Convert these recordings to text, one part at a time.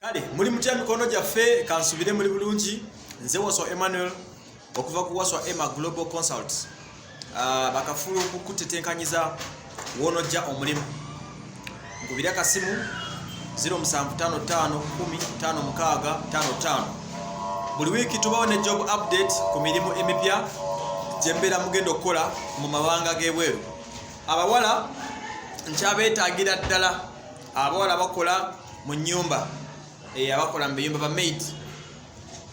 kale muli mutya mikono gyaffe kansubire muli bulungi nze waswa emmanuel okuva ku waswa emma global consult uh, bakafulu okukutetenkanyiza wonojja omulimu nkubire akasimu 07551556 buli wiiki tubawo ne job update ku mirimu emipya gyembeera mugenda okukola mu mabanga g'ebweru abawala nkyabeetaagira ddala abawala bakola mu nyumba eh, abakola mu biyumba bamaid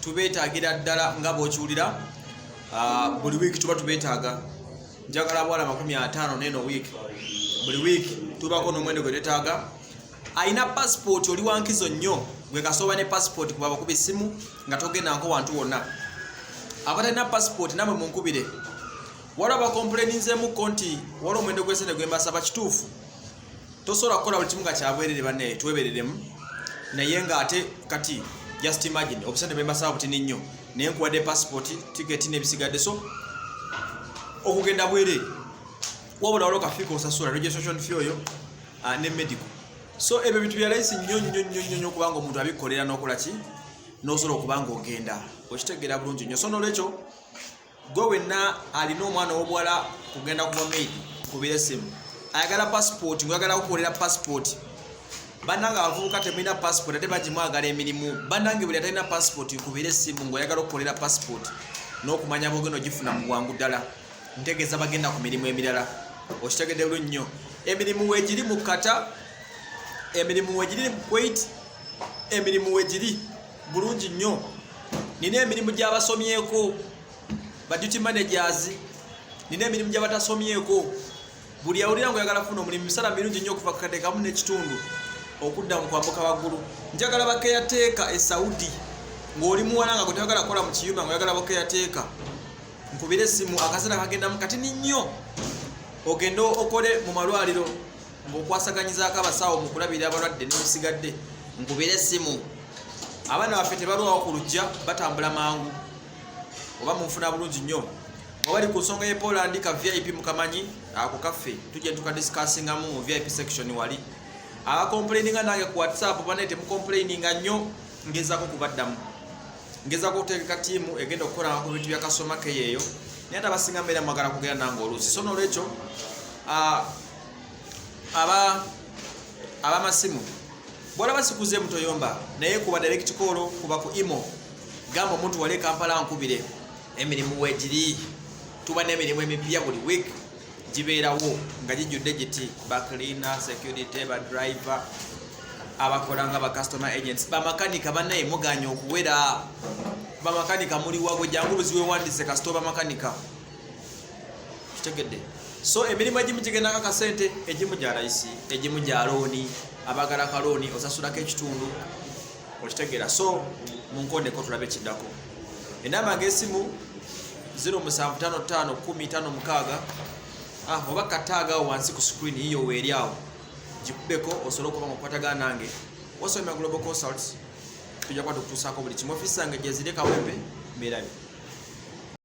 tubetagira ddala nga bwokiwulira ah, buli wiiki tuba tubetaaga njagala abawala makumi ataano neno wiiki buli wiiki tubako n'omwendo gwe tetaaga alina pasipooti oli wankizo nnyo gwe kasooba ne pasipooti kuba bakuba essimu nga togendanko wantu wonna abatalina pasipooti namwe munkubire waliwo bakompuleninzeemuko nti waliwo omwendo gw'esente gwembasaba kituufu tosobola kukola buli kimu nga kyabwerere banaye twebereremu naye nga ate kati just imagine obusente bwembasaba butini nnyo naye nkuwadde passport ticket nebisigadde so okugenda bwerere wabula waliwo kafiika osasula registration fee oyo ah, ne medical so ebyo bintu byalayisi nnyo nnyo nnyo nnyo nnyo kubanga omuntu abikolera nokola ki nosobola okuba nga ogenda okitegeera bulungi nnyo so nolwekyo gwe wenna alina omwana ow'obuwala kugenda kuba maid kubiresemu ayagala pasipooti ngweyagala kukolera pasipooti banange abavubuka temulina pasipooti ate bagimwagala emirimu banange buli atalina pasipooti kubeera esimu ngaoyagala okukolera pasipooti n'okumanya bwogenda ogifuna mu bwangu ddala ntegeeza bagenda ku mirimu emirala okitegede lu nnyo emirimu wegiri mu kata emirimu wegiri mu kuwait emirimu wegiri bulungi nnyo nina emirimu gy'abasomyeko ba duty managers nina emirimu gy'abatasomyeko buli awulira nga oyagala kufuna omulimu misala mirungi nnyo okuva kukatekamu n'ekitundu okudda mu kwambuka waggulu njagala bakeyateeka e saudi ng'oli muwala nga gwe tayagala kukola mu kiyumba nga oyagala bakeyateeka nkubire esimu akaseera kagendamu katini nnyo ogende okole mu malwaliro ng'okwasaganyizaako abasawo mu kulabirira abalwadde n'ebisigadde nkubira essimu abaana baffe tebalwawo ku lujja batambula mangu oba munfuna bulungi nnyo obali ku nsonga yepoland ka vip mukamanyi ako kaffe tujja tukadisikasingamu mu vip section wali abakomplaininga nange ku whatsapp banaye temukomplaininga nnyo ngezako kubaddamu ngezako okutegeka tiimu egenda okukolanga ku bintu bya kasoma keyeeyo naye ate abasinga mbeera mwagala kugera nange oluusi so nolwekyo ah, aba abamasimu bwolaba sikuze mutoyomba naye kuba direct call kuba ku imo gamba omuntu wali kampala nkubire emirimu wegiri tuba n'emirimu emipya buli week gibeerawo nga gijjudde giti bacleaner security badriver abakola nga bacustomer agents bamakanika banaye muganye okuwera bamakanika muliwago jangu buziwewandise kasita obamakanika kitegedde so emirimu egimu gigendako akasente egimu gya layisi egimu gya looni abagala ka looni osasulako ekitundu okitegeera so munkondeko tulabe ekiddako enamba ng'esimu 07551556 ah, oba kataagawo wansi ku screen yiyo weeri awo gikubeko osobola okuba nga okukwatagana nange osomera global consults tujja kuba tukutuusaako buli kimu ofiisi zange gyeziri kawempe mbeerabi